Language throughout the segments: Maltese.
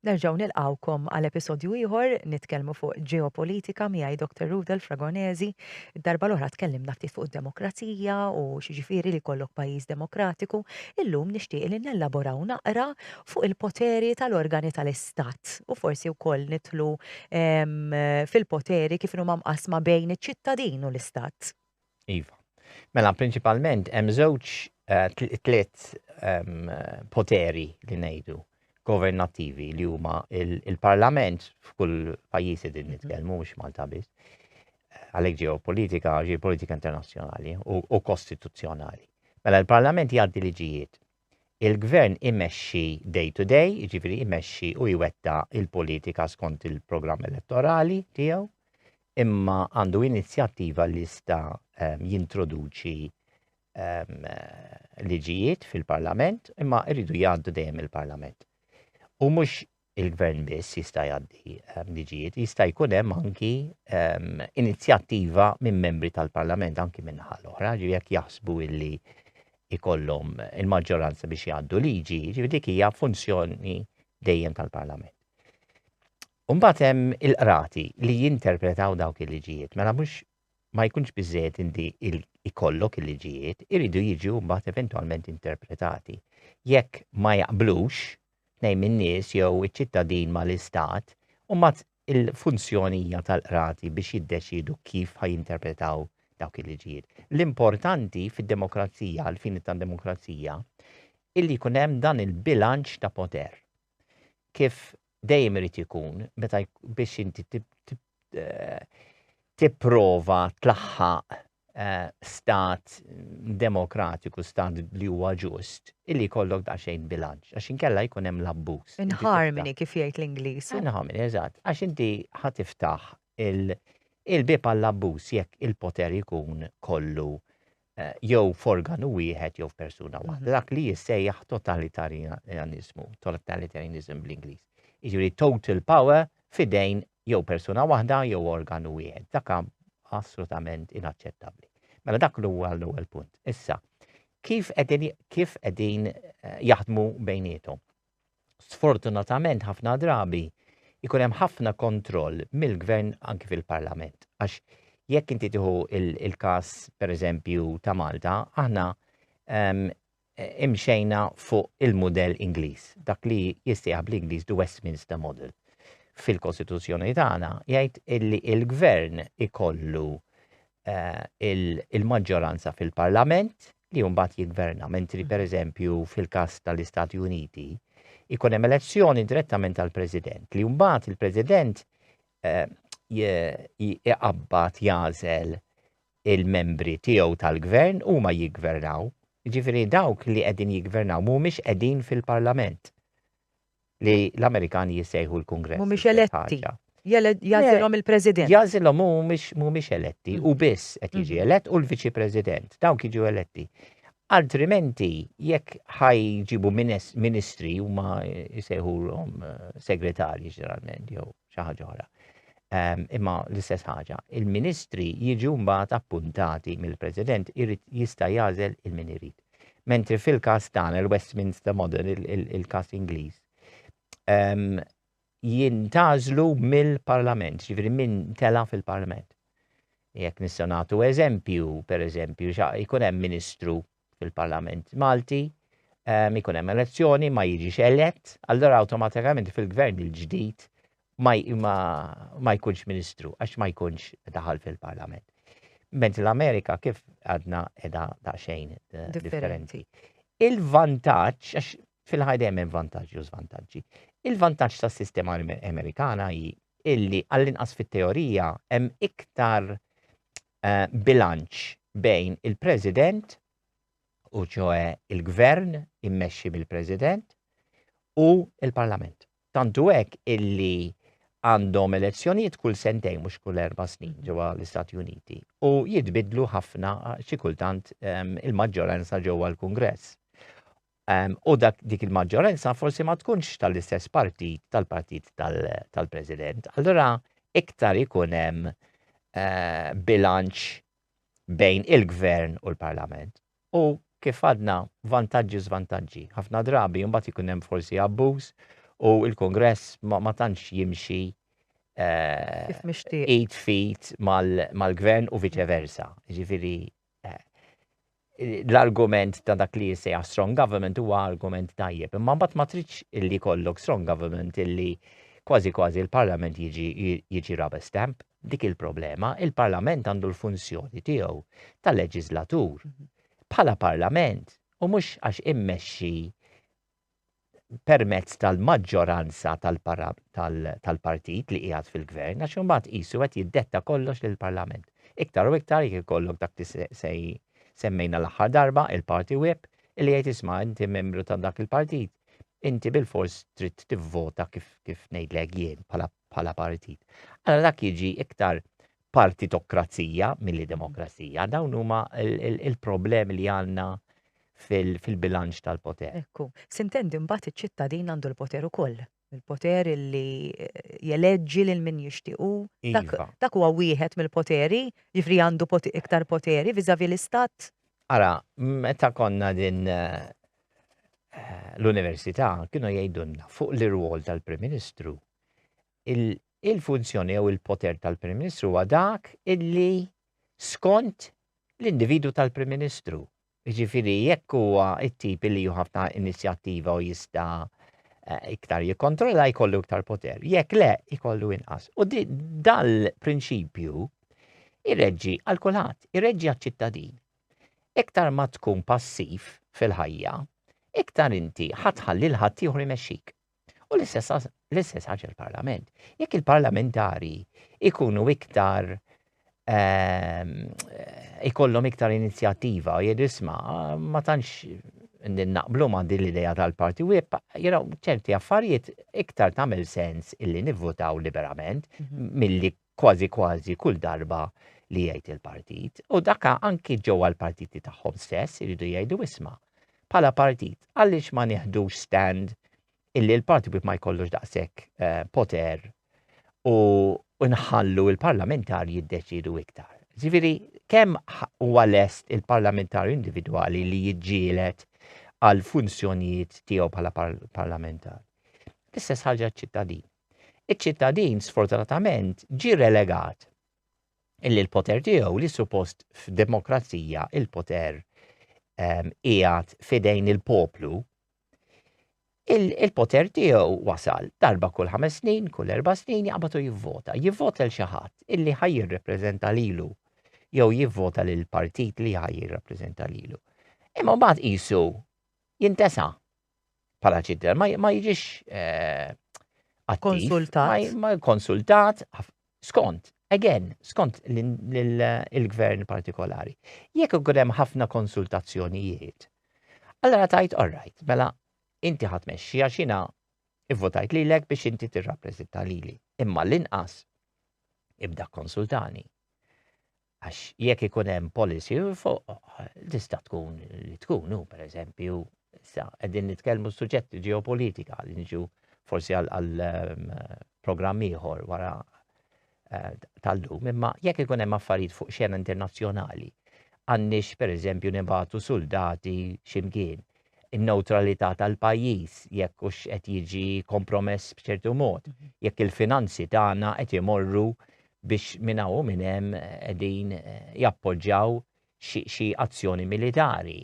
Nerġgħu nilqgħukom għal episodju ieħor nitkellmu fuq ġeopolitika miegħi Dr. Rudel Fragonesi. Id-darba l-oħra tkellimna ftit fuq id-demokrazija u x'ġifieri li jkollok pajjiż demokratiku. Illum nixtieq li nellaboraw naqra fuq il-poteri tal-organi tal-istat u forsi wkoll nidħlu ehm, fil-poteri kif huma mqassma bejn iċ-ċittadin u l-istat. Iva. Mela, prinċipalment, hemm żewġ tliet poteri li ngħidu governattivi li huma il-parlament f'kull pajjiż din mhm. nitkellmu mhux Malta biss. Għalhekk ġeopolitika, ġeopolitika internazzjonali u kostituzzjonali. Mela l-parlament jgħaddi liġijiet Il-Gvern imexxi day to day, jiġifieri jmexxi u jwettaq il-politika skont il-programm elettorali tiegħu, imma għandu inizjattiva li jista' ehm, jintroduċi ehm, liġijiet fil-Parlament, imma jridu jgħaddu dejjem il-Parlament. U mhux il-Gvern biss jista' jgħaddi ehm, liġijiet, jista' jkun hemm anki ehm, inizjattiva minn membri tal-Parlament anki minn naħa l-oħra, ġifieri jekk jaħsbu illi ikollhom il-maġġoranza biex jgħaddu liġi, ġifieri dik hija funzjoni dejjem tal-Parlament. Umbagħad hemm il-qrati li jinterpretaw dawk il-liġijiet, mela mhux ma jkunx biżżejjed indi ikollok il-liġijiet, iridu jiġu mbagħad eventwalment interpretati. Jekk ma jaqblux tnejn min-nies jew iċ-ċittadin ma' l-istat, u mbagħad il-funzjoni hija tal-qrati biex jiddeċiedu kif ħa jinterpretaw dawk il-liġijiet. L-importanti fid-demokrazija, għall-fini tad-demokrazija, illi jkun hemm dan il-bilanċ ta' poter. Kif dejjem irid ikun meta biex inti tipprova tlaħħaq eh, stat demokratiku, stat li huwa ġust, illi jkollok daqsxejn bilanċ, għax inkella jkun hemm l-abbuż. In harmony kif jgħid l-Ingliż. In harmony, eżatt, għax inti ħatiftaħ il-bib għall-abbuż jekk il-poter jkun kollu jew f'organu wieħed jew f'persuna waħda, mhm. dak li jissejjaħ totalitarianizmu, totalitarianizm bl-Ingliż. Jiġifieri total power fidejn jew persuna waħda jew organu wieħed. Dak assolutament inaċċettabbli. Mela dak li huwa l-ewwel punt. Issa, kif qegħdin kif qegħdin eh, jaħdmu bejniethom? sfortunatament ħafna drabi ikun hemm ħafna kontroll mill-gvern anki fil-parlament. Għax jekk inti tieħu il-każ pereżempju ta' Malta, aħna ehm, imxejna fuq il-modell Ingliż, dak li jistieħ bl-Ingliż the Westminster model. Fil-Kostituzzjoni tagħna jgħid illi il-gvern ikollu il-maġġoranza fil-Parlament li mbagħad jiggverna, mentri mm. pereżempju fil-każ tal-Istati Uniti ikun hemm elezzjoni direttament tal-President li mbagħad il-President eh, iqabbat jażel il-membri tiegħu tal-gvern huma jiggvernaw. Ġifieri dawk li qegħdin jiggvernaw mhumiex qegħdin fil-Parlament. li l-Amerikani jissejħu l-Kungress. Mhumiex eletti. Jagħżilhom il-President. Jagħżilhom hu mhumiex eletti u biss qed jiġi elett u l-Viċi President. Dawn jiġu eletti. Altrimenti jekk ħajġibu ministri huma jsejħulhom eh, segretarji ġeneralment jew xi ħaġa oħra. Ehm, imma l-istess ħaġa, il-ministri jiġu mbagħad appuntati mill-President irid jista' jagħżel il-min irid. Mentri fil-każ tagħna l-Westminster Model, il-każ Ingliż, jintażlu mill-Parlament, ġifieri min tela fil-Parlament. Jekk nistgħu nagħtu eżempju, pereżempju, jkun hemm Ministru fil-Parlament Malti, ikun hemm elezzjoni, ma jiġix elett, allora awtomatikament fil-gvern il-ġdid ma jkunx ministru għax ma jkunx daħal fil-parlament. Ment l-Amerika kif għadna edha daqxejn eh, differenti. Il-vantaġġ, għax fil-ħajda hemm vantaġġi u żvantaġġi, il-vantaġġ tas-sistema Amerikana hi illi għall-inqas fit-teorija hemm iktar eh, bilanċ bejn il-President u ċoħe il-Gvern immexxi mill-President u il-Parlament. Tant hu hekk illi għandhom elezzjonijiet kull sentejn mhux kull erba' snin ġewwa l-Istati Uniti u jitbiddlu ħafna xi kultant ehm, il-maġġoranza ġewwa l-Kungress. Ehm, u dak dik il-maġġoranza forsi ma tkunx tal-istess partit tal-partit tal-President. Allura iktar ikun hemm eh, bilanċ bejn il-gvern u l-parlament. u kif għadna vantaġġi u żvantaġġi. Ħafna drabi imbagħad ikun hemm forsi abbuż u l-Kungress ma tantx jimxi id fit mal-gvern u viċe versa. Ġifieri l-argument ta' dak li jissejja strong government huwa argument tajjeb. Imma mbagħad ma tridx illi kollok strong government illi kważi kważi l-Parlament jiġi rubber stamp. dik il-problema, il-Parlament għandu l-funzjoni tiegħu ta' leġiżlatur bħala Parlament u mhux għax immexxi permezz tal-maġġoranza tal-partit li qiegħed fil-gvern għax imbagħad qisu qed jiddetta kollox lill-Parlament. Iktar u iktar jekk ikollok dak li se semmejna l-aħħar darba il-party whip li jgħid isma' inti membru ta' dak il-partit inti bil-fors trid tivvota kif kif ngħidlek jien bħala bħala partit. Allora dak jiġi iktar partitokrazija milli demokrazija. Dawn huma il-problemi li għandna fil-bilanċ tal-poter. Ekku, sintendi mbagħad iċ-ċittadin għandu l-poter ukoll. Il-poter li eh, jeleġġi lil min jixtiequ. Iva. Dak huwa wieħed mill-poteri, jifri għandu iktar poteri viżavi l-istat. Ara, meta konna din eh, eh, l-Università kienu jgħidulna fuq l-irwol tal-Prim Ministru il-funzjoni jew il-poter tal-Prim Ministru huwa dak illi skont l-individu tal-Prim Ministru. Ġifiri, jekk huwa it-tip li ħafna inizjattiva u jista' eh, iktar jikkontrolla jkollu iktar poter. Jekk le, jkollu inqas. U dal-prinċipju irreġġi għal kulħadd, irreġġi għal ċittadin Iktar ma tkun passiv fil-ħajja, iktar inti ħa tħalli 'l ħaddieħor imexxik. U l-istess ħaġa l-Parlament. Jekk il-parlamentari jkunu iktar ikollhom iktar inizjattiva u jgħidu isma' ma tantx naqblu ma' din l-idea tal-party whip, you know, ċerti affarijiet iktar tagħmel sens illi nivvotaw liberament mhm. milli kważi kważi kull darba li jgħid il-partit u daka anki ġewwa l-partiti tagħhom stess iridu jgħidu isma' bħala partit għaliex ma nieħdux stand illi l-parti wieħed ma jkollux daqshekk eh, poter u nħallu il-parlamentar jiddeċidu iktar. Ġifieri kemm huwa lest il-parlamentar individwali li jiġġielet għal funzjonijiet tiegħu bħala parlamentar. L-istess ħaġa ċittadin. Iċ-ċittadin sfortunatament ġie relegat illi l-poter tiegħu li suppost f'demokrazija il-poter ehm, qiegħed fidejn il-poplu il-poter tiegħu wasal darba kull ħames snin, kull erba' snin jaqbatu jivvota. Jivvota l xi ħadd illi ħaj jirrepreżenta lilu jew jivvota lil partit li ħaj jirrepreżenta lilu. Imma mbagħad qisu jintesa' bħala ċitter, ma jiġix eh, konsultat. Ma konsultat, skont, again, skont il-gvern partikolari. Jekk ikun hemm ħafna konsultazzjonijiet, allora tajt all right, mela inti ħadd mexxi għax jiena ivvotajt lilek biex inti tirrappreżenta lili. Imma l-inqas ibda konsultani. Għax jekk ikun hemm policy fuq tista' tkun li tkun hu pereżempju issa qegħdin nitkellmu suġġett ġeopolitika li niġu forsi għal ehm, programm ieħor wara eh, tal-lum, imma jekk ikun hemm affarijiet fuq xena internazzjonali, għandix pereżempju nibatu soldati ximkien in-neutralità tal-pajjiż jekk hux qed jiġi kompromess b'ċertu mod, mhm. jekk il-finanzi tagħna qed imorru biex minn hawn u minn hemm qegħdin jappoġġjaw xi azzjoni militari.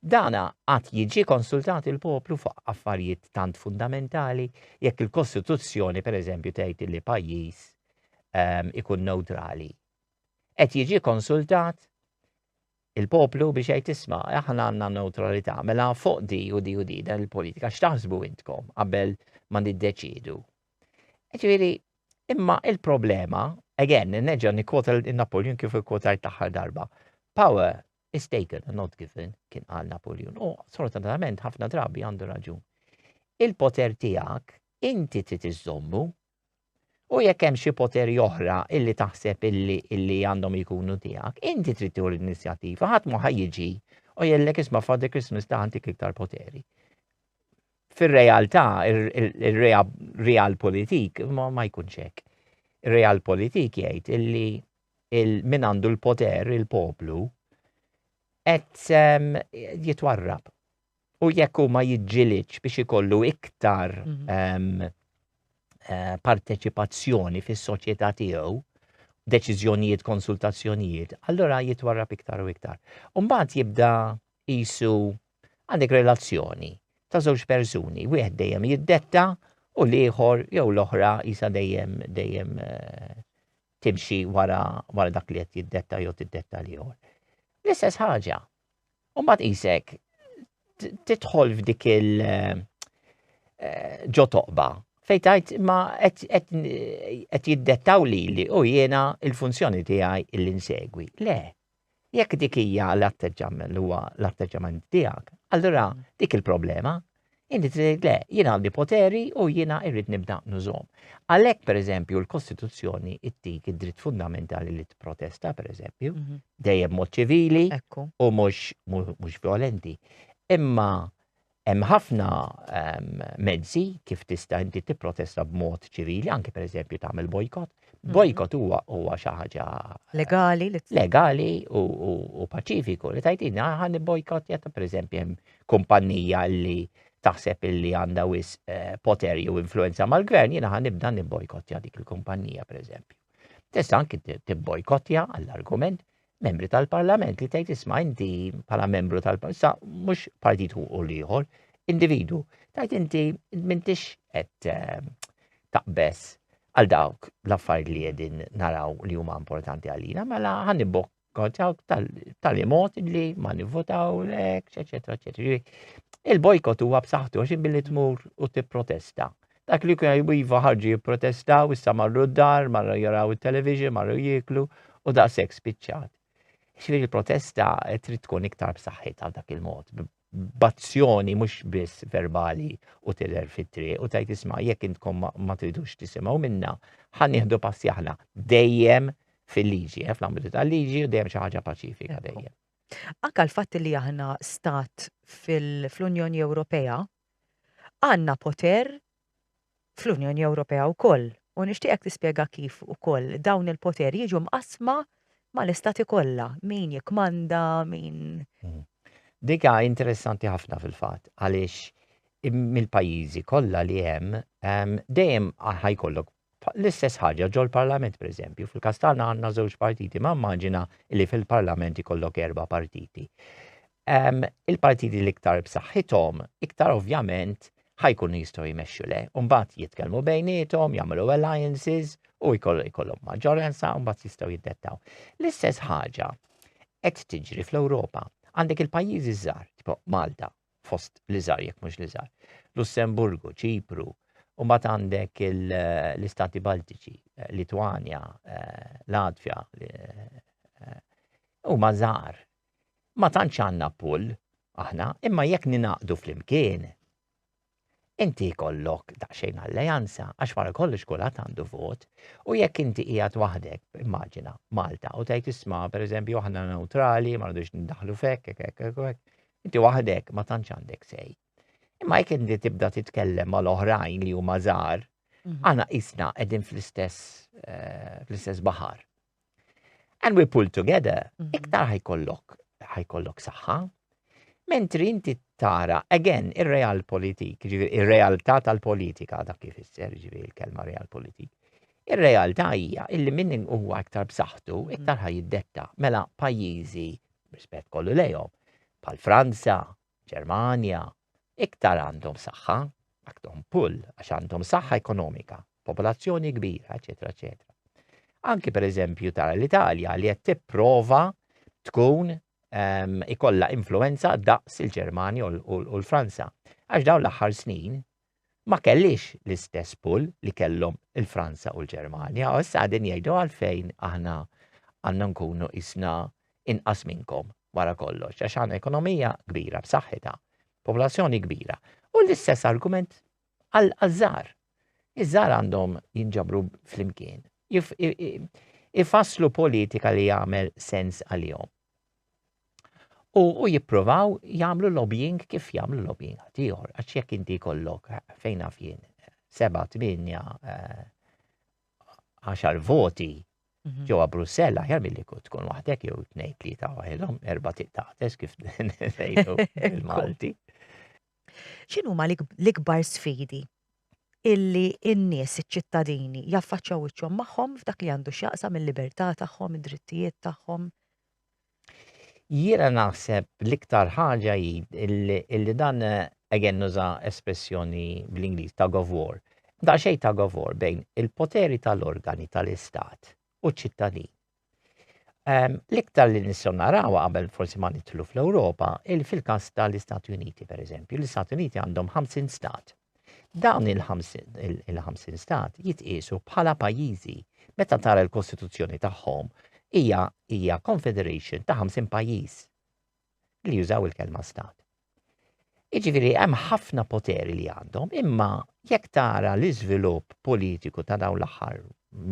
Dan għad jiġi konsultat il-poplu fuq affarijiet tant fundamentali jekk il-Kostituzzjoni pereżempju tgħid li pajjiż ehm, ikun newtrali. Qed jiġi konsultat Il-poplu biex jgħid isma', aħna għandna newtralità, mela fuq di u di u di dan il-politika x'taħsbu intkom qabel ma niddeċiedu. Ġifieri, imma il-problema, again, neġa' nikkwota Napoleon kif ikkwotajt l-aħħar darba. Power is taken and not given, kien qal Napoleon. U sfortunatament ħafna drabi għandu raġun. Il-poter tiegħek inti trid iżommu, U jekk hemm xi poteri oħra illi taħseb illi illi għandhom jkunu tiegħek, inti trid tieħu l-inizjattiva, ħadd ma jiġi u jellek isma' Father Christmas ta' għandik iktar poteri. Fir-realtà, ir-real politik ma jkunx hekk. Ir-real politik jgħid illi il-min għandu l-poter, il-poplu, qed ehm, jitwarrab. U jekk hu ma jiġġilidx biex ikollu iktar Eh, parteċipazzjoni fis-soċjetà tiegħu, deċiżjonijiet, konsultazzjonijiet, allora jitwarrab iktar u iktar. Umbagħad jibda jisu għandek relazzjoni ta' żewġ persuni, wieħed dejjem jiddetta u l-ieħor jew l-oħra jisa dejjem dejjem eh, timxi wara, wara dak li qed jiddetta jew tiddetta l-ieħor. L-istess ħaġa, U mbagħad qisek tidħol f'dik il eh, ġo toqba fej tajt ma qed jiddettaw li li u jiena il-funzjoni tiegħi illi nsegwi. Le, jekk dik hija l-atteġġament huwa l-atteġġament tiegħek, allura dik il-problema Inti trid le, jien għandi poteri u jiena irrid nibda nużom. Għalhekk pereżempju l-Kostituzzjoni ttik id-dritt fundamentali li tipprotesta pereżempju, mhm. dejjem mod ċivili u mhux mhux violenti. Imma hemm ħafna ehm, mezzi kif tista' inti tipprotesta b'mod ċivili, anke pereżempju tagħmel bojkot. Mhm. Bojkot huwa huwa xi ħaġa eh, legali legali u paċifiku li tajtina ħan bojkot jata pereżempju hemm kumpannija li taħseb illi għandha wis eh, poter jew influenza mal-gvern, jiena ħan nibda nibbojkottja dik il-kumpannija pereżempju. Tista' anki tibbojkottja għall-argument membri tal-parlament li tgħid isma' inti bħala membru tal-parlament, sa mhux partit u l-ieħor, individu, tgħid inti m'intix qed eh, taqbess għal dawk l-affarijiet li qegħdin naraw li huma importanti għalina, mela ħan tal-li mod li ma nivvotaw lek, eċetera, eċetera. Il-bojkot huwa b'saħħtu għax billi tmur u tipprotesta. Dak li kuna jiva ħarġu jipprotestaw, issa marru d-dar, marru jaraw il-television, marru jiklu u daqshekk spiċċat. Xfiri il-protesta trid tkun iktar b'saħħitha dak il-mod, b'azzjoni mhux biss verbali u tidher fit-triq u tgħid isma' jekk intkom ma tridux tisimgħu minna, ħa nieħdu passi aħna dejjem fil-liġi, eh, fl-ambitu tal-liġi u dejjem xi ħaġa paċifika dejjem. Anka l-fatt li aħna stat fl-Unjoni Ewropea għandna poter fl-Unjoni Ewropea wkoll u nixtieqek tispjega kif ukoll dawn il-poteri jiġu mqassma mal-istati kollha, min jikkmanda, min. Mm. Dik hija interessanti ħafna fil-fatt għaliex mill-pajjiżi kollha li hemm dejjem ħajkollok L-istess ħaġa ġol-Parlament pereżempju, fil-każ tagħna għandna żewġ partiti, ma immaġina li fil-Parlament ikollok erba' partiti. Il-partiti l-iktar b'saħħithom, iktar ovvjament ħa jkunu jistgħu jmexxu le, u mbagħad jitkellmu bejniethom, jagħmlu alliances u jkollhom maġġoranza u mbagħad jistgħu jiddettaw. L-istess ħaġa qed tiġri fl-Ewropa. Għandek il-pajjiżi żgħar, tipo Malta, fost l-iżgħar jekk mhux l-iżgħar. Lussemburgu, Ċipru, u mbagħad għandek l-Istati Baltiċi, eh, Litwanja, eh, Latvja, eh, huma żgħar. Ma tantx għandna pull aħna, imma jekk ninaqdu flimkien Inti jkollok daqsxejn alleanza għax wara kollox kulħadd għandu vot u jekk inti qiegħed waħdek, immaġina Malta u tgħid isma' pereżempju aħna neutrali ma rridux nindaħlu fek, hekk hekk hekk hekk. Inti waħdek ma tantx għandek sej. Imma jekk inti tibda titkellem mal oħrajn li huma żgħar, mhm. aħna qisna qegħdin fl-istess eh, fl-istess baħar. And we pull together, mhm. iktar ħajkollok ħajkollok saħħa. Mentri inti tara, again, ir-real politik, ir-realtà tal-politika, dak kif isser ġivi il-kelma real politik. Ir-realtà hija illi minn huwa aktar b'saħħtu, mhm. iktar ħaj jiddetta. Mela pajjiżi, rispett kollu lejhom, pal Franza, Ġermanja, iktar għandhom saħħa, għandhom pull għax għandhom saħħa ekonomika, popolazzjoni kbira, eċetera, eċetera. Anki per eżempju tara l-Italja li qed tipprova tkun um, ikolla influenza daqs il-Ġermanja u l-Franza. Għax dawn l-aħħar snin ma kellhiex l-istess pull li kellhom il-Franza u l-Ġermanja u issa qegħdin jgħidu għalfejn aħna għandna nkunu qisna inqas minnkom wara kollox għax għandna ekonomija kbira b'saħħitha, popolazzjoni kbira. U l-istess argument għall-żgħar. Iż-żgħar għandhom jinġabru flimkien, ifasslu politika li jagħmel sens għalihom. U, u jippruvaw jagħmlu lobbying kif jagħmlu lobbying ħadd ieħor, għax jekk inti jkollok eh, fejn naf jien eh, seba' tminja eh, għaxar voti mhm. ġewwa Brussell aħjar milli tkun waħdek jew tnejn tlieta waħedhom erba' tiqtates kif ngħidu il-Malti. X'inhuma l-ikbar sfidi illi n-nies, iċ-ċittadini, jaffaċċjaw wiċċhom magħhom f'dak li għandu x'jaqsam il-libertà tagħhom, id-drittijiet tagħhom. Jiena naħseb l-iktar ħaġa hi illi dan again nuża espressjoni bl-Ingliż ta' of war. Da xejn ta' of war bejn il-poteri tal-organi tal-istat u ċ-ċittadin. Ehm, l-iktar li nistgħu narawha qabel forsi ma nidħlu fl-Ewropa, il fil-każ tal-Istati Uniti pereżempju, l-Istati Uniti għandhom 50 stat. Dawn il-50 stat jitqiesu bħala pajjiżi meta tara l-Kostituzzjoni tagħhom hija hija confederation ta' 50 pajjiż li jużaw il-kelma stat. Jiġifieri hemm ħafna poteri li għandhom, imma jekk tara l-iżvilupp politiku ta' dawn l-aħħar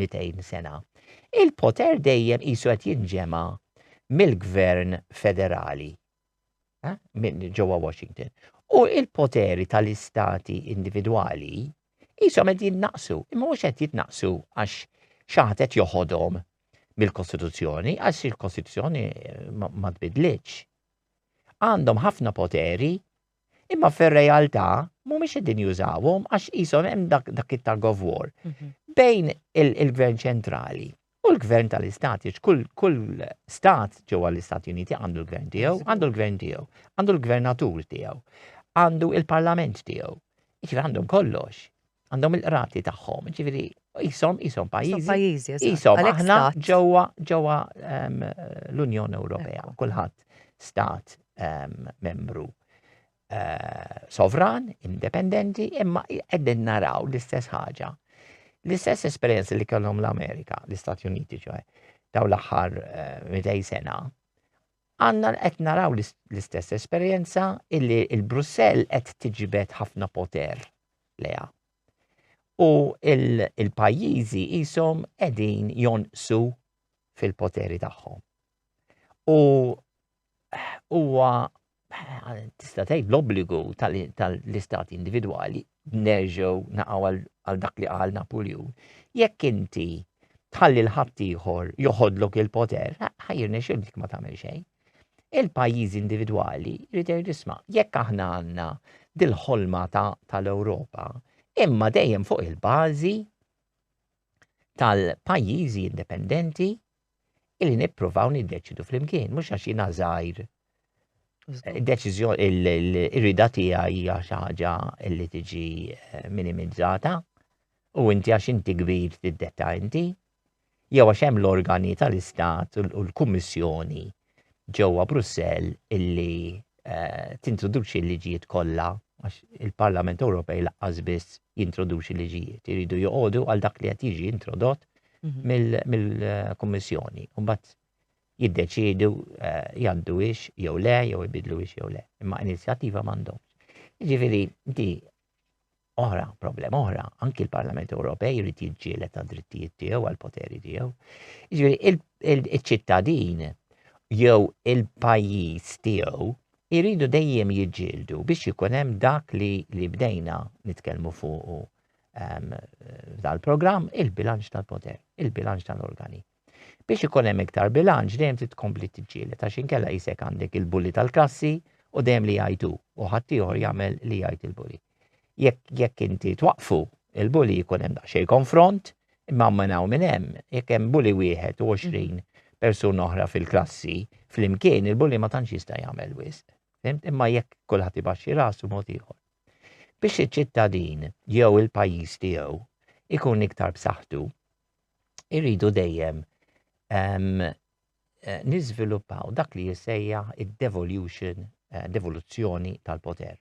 200 sena, il-poter dejjem qisu qed jinġema' mill-gvern federali eh, minn ġewwa Washington. U il-poteri tal-istati individwali qishom qed jinnaqsu, imma mhux qed jitnaqsu għax xaħat qed joħodhom mill-Kostituzzjoni, għax il-Kostituzzjoni eh, ma tbidlitx. għandhom ħafna poteri, imma fir-realtà mhumiex qegħdin jużawhom għax qishom hemm dak dak it-tug of war mhm. bejn il-Gvern ċentrali U l-gvern tal-istat, kull, kull stat ġewwa l-Istati Uniti għandu l-gvern tiegħu, għandu l-gvern tiegħu, għandu l-gvernatur tiegħu, għandu il-parlament tiegħu. Iġri għandhom kollox. għandhom il-qrati tagħhom, ġifieri jisom jisom pajjiżi. Jisom aħna ġewwa ġewwa ehm, l-Unjoni Ewropea, kulħadd stat ehm, membru eh, sovran, indipendenti, imma qegħdin naraw l-istess ħaġa. L-istess esperjenza li kellhom l-Amerika, l-Istati Uniti ċoħe, daw l-aħħar 200 eh, sena, Għandna qed naraw l-istess esperjenza illi l-Brussell qed tiġbed ħafna poter lejha. U l-pajjiżi qishom qegħdin jonqsu fil-poteri tagħhom. U huwa tista' tgħid l-obbligu tal-istati individwali nerġgħu naqgħu għal dak li qal Napuljun, jekk inti tħalli l-ħaddieħor joħodlok il-poter, ħajrne xildik ma tagħmel xejn. Il-pajjiżi individwali jrid jisma' jekk aħna għandna dil-ħolma tal-Ewropa, imma dejjem fuq il-bażi tal-pajjiżi indipendenti illi nippruvaw niddeċidu flimkien, mhux għax jiena żgħir. Id-deċiżjoni l-irida tiegħi hija xi ħaġa li tiġi eh, minimizzata u inti għax inti kbir tiddetta inti jew għax hemm l-organi tal-Istat u l-Kummissjoni ġewwa Brussell illi tintroduċi l-liġijiet kollha għax il-Parlament Ewropej laqqas biss jintroduċi liġijiet, iridu joqogħdu għal dak li qed jiġi introdott mhm. mill-Kummissjoni. U mbagħad jiddeċiedu eh, jgħaddu ix jew le, jew ibidlu ix jew le. Imma inizjattiva m'għandhomx. Jiġifieri di oħra, problema oħra, anki l-Parlament Ewropej jrid jiġġieled għad drittijiet tiegħu għal poteri tiegħu. Jiġifieri il-ċittadin jew il-pajjiż tiegħu jridu dejjem jiġġieldu biex ikun hemm dak li li bdejna nitkellmu fuqu ehm, dal-programm il-bilanċ tal-poter, il-bilanċ tal-organi. Biex ikun hemm iktar bilanċ dejjem trid tkompli tiġġieled għax inkella qisek għandek il-bully tal-klassi u dejjem li jgħid hu u ħaddieħor jagħmel li jgħid il-bully. Jekk jekk inti twaqqfu il-bully jkun hemm daqsxejn konfront, imma minn hawn minn hemm jekk hemm bully wieħed u 20 persuna oħra fil-klassi flimkien il-bully ma tantx jista' jagħmel wisq. Fimt? Imma jekk kulħadd ibaxxi rasu mod ieħor. Biex iċ-ċittadin jew il-pajjiż tiegħu ikun iktar b'saħħtu, irridu dejjem niżviluppaw dak li jissejjaħ id-devolution, eh, devoluzzjoni tal-poter.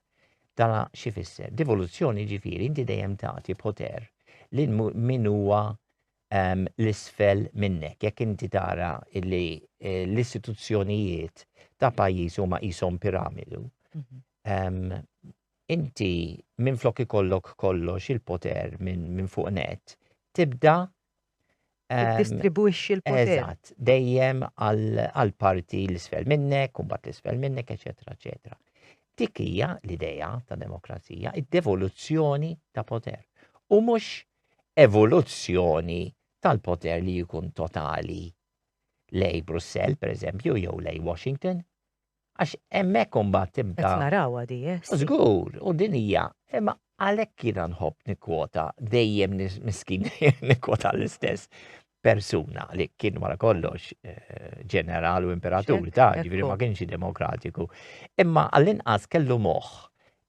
Dana xi fisser? Devoluzzjoni ġifieri inti dejjem tagħti poter lil min huwa um, l-isfel minnek. Jekk inti tara li eh, l-istituzzjonijiet ta' pajjiż huma qishom piramidu, um, inti minflok ikollok kollox il-poter minn fuq net, tibda ehm, distribwixxi l-poter. Eżatt, dejjem għal parti l-isfel minnek, kumbat l-isfel minnek, eċetera, eċetera. Dik hija l-idea ta' demokrazija, id-devoluzzjoni ta' poter. U mhux evoluzzjoni tal-poter li jkun totali lej Brussell, per eżempju, jew lej Washington, Għax hemmhekk imbagħad tibda. Qed narawha di, eh? Żgur, u din hija, imma għalhekk jiena nħobb nikkwota dejjem miskin nikkwota l-istess persuna li kien wara kollox eh, ġeneral u imperatur ta' ġifieri ma kienx demokratiku. Imma għall-inqas kellu moħħ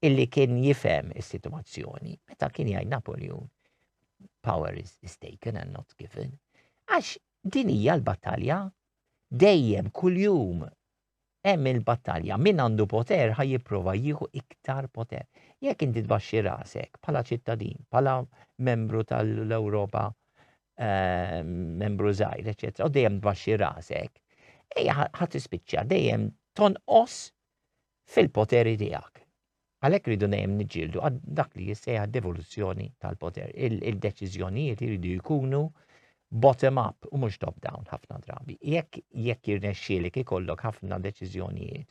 illi kien jifhem is-sitwazzjoni meta kien jgħid Napoleon power is, is taken and not given. Għax din hija l-battalja dejjem kuljum Hemm il-battalja, min għandu poter ħa jipprova jieħu iktar poter. Jekk inti tbaxxi rasek bħala ċittadin, bħala membru tal-Ewropa, eh, membru żgħir, eċetera, u dejjem tbaxxi rasek, ejja ħadd ispiċċa dejjem tonqos fil-poteri tiegħek. Għalhekk irridu dejjem niġġieldu għal dak li jissejjaħ devoluzzjoni tal-poter. Il-deċiżjonijiet iridu jkunu bottom up u mhux top down ħafna drabi. Jekk jekk irnexxielek ikollok ħafna deċiżjonijiet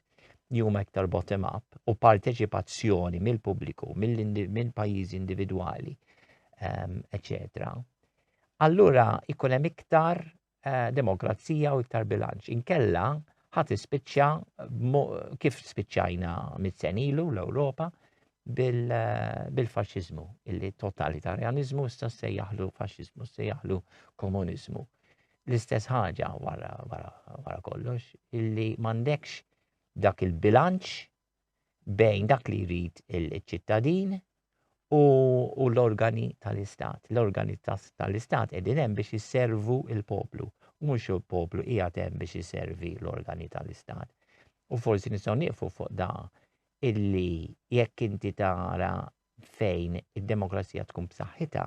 li huma iktar bottom up u parteċipazzjoni mill-pubbliku, mill-pajjiżi individwali, eccetera, ehm, allura ikun hemm iktar eh, demokrazija u iktar bilanċ. Inkella ħat ispiċċa kif spiċċajna mit-senilu l-Ewropa eh, bil-faxizmu, illi totalitarjanizmu issa se jaħlu faxizmu, se jaħlu komunizmu. L-istess ħaġa wara, wara, wara kollox, illi mandekx dak il-bilanċ bejn dak li jrid il-ċittadin u, u l-organi tal-istat. L-organi tal-istat qegħdin hemm biex jisservu il-poplu u mhux il-poplu hija hemm biex jisservi l-organi tal-istat. U forsi nistgħu nieqfu fuq da illi jekk inti tara fejn id-demokrazija tkun b'saħħitha,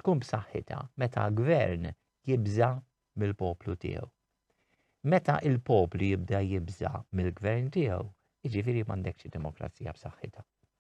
tkun b'saħħitha meta gvern jibża mill-poplu tiegħu. Meta l-poplu jibda jibża' mill-gvern tiegħu, jiġifieri m'għandekx demokrazija b'saħħitha.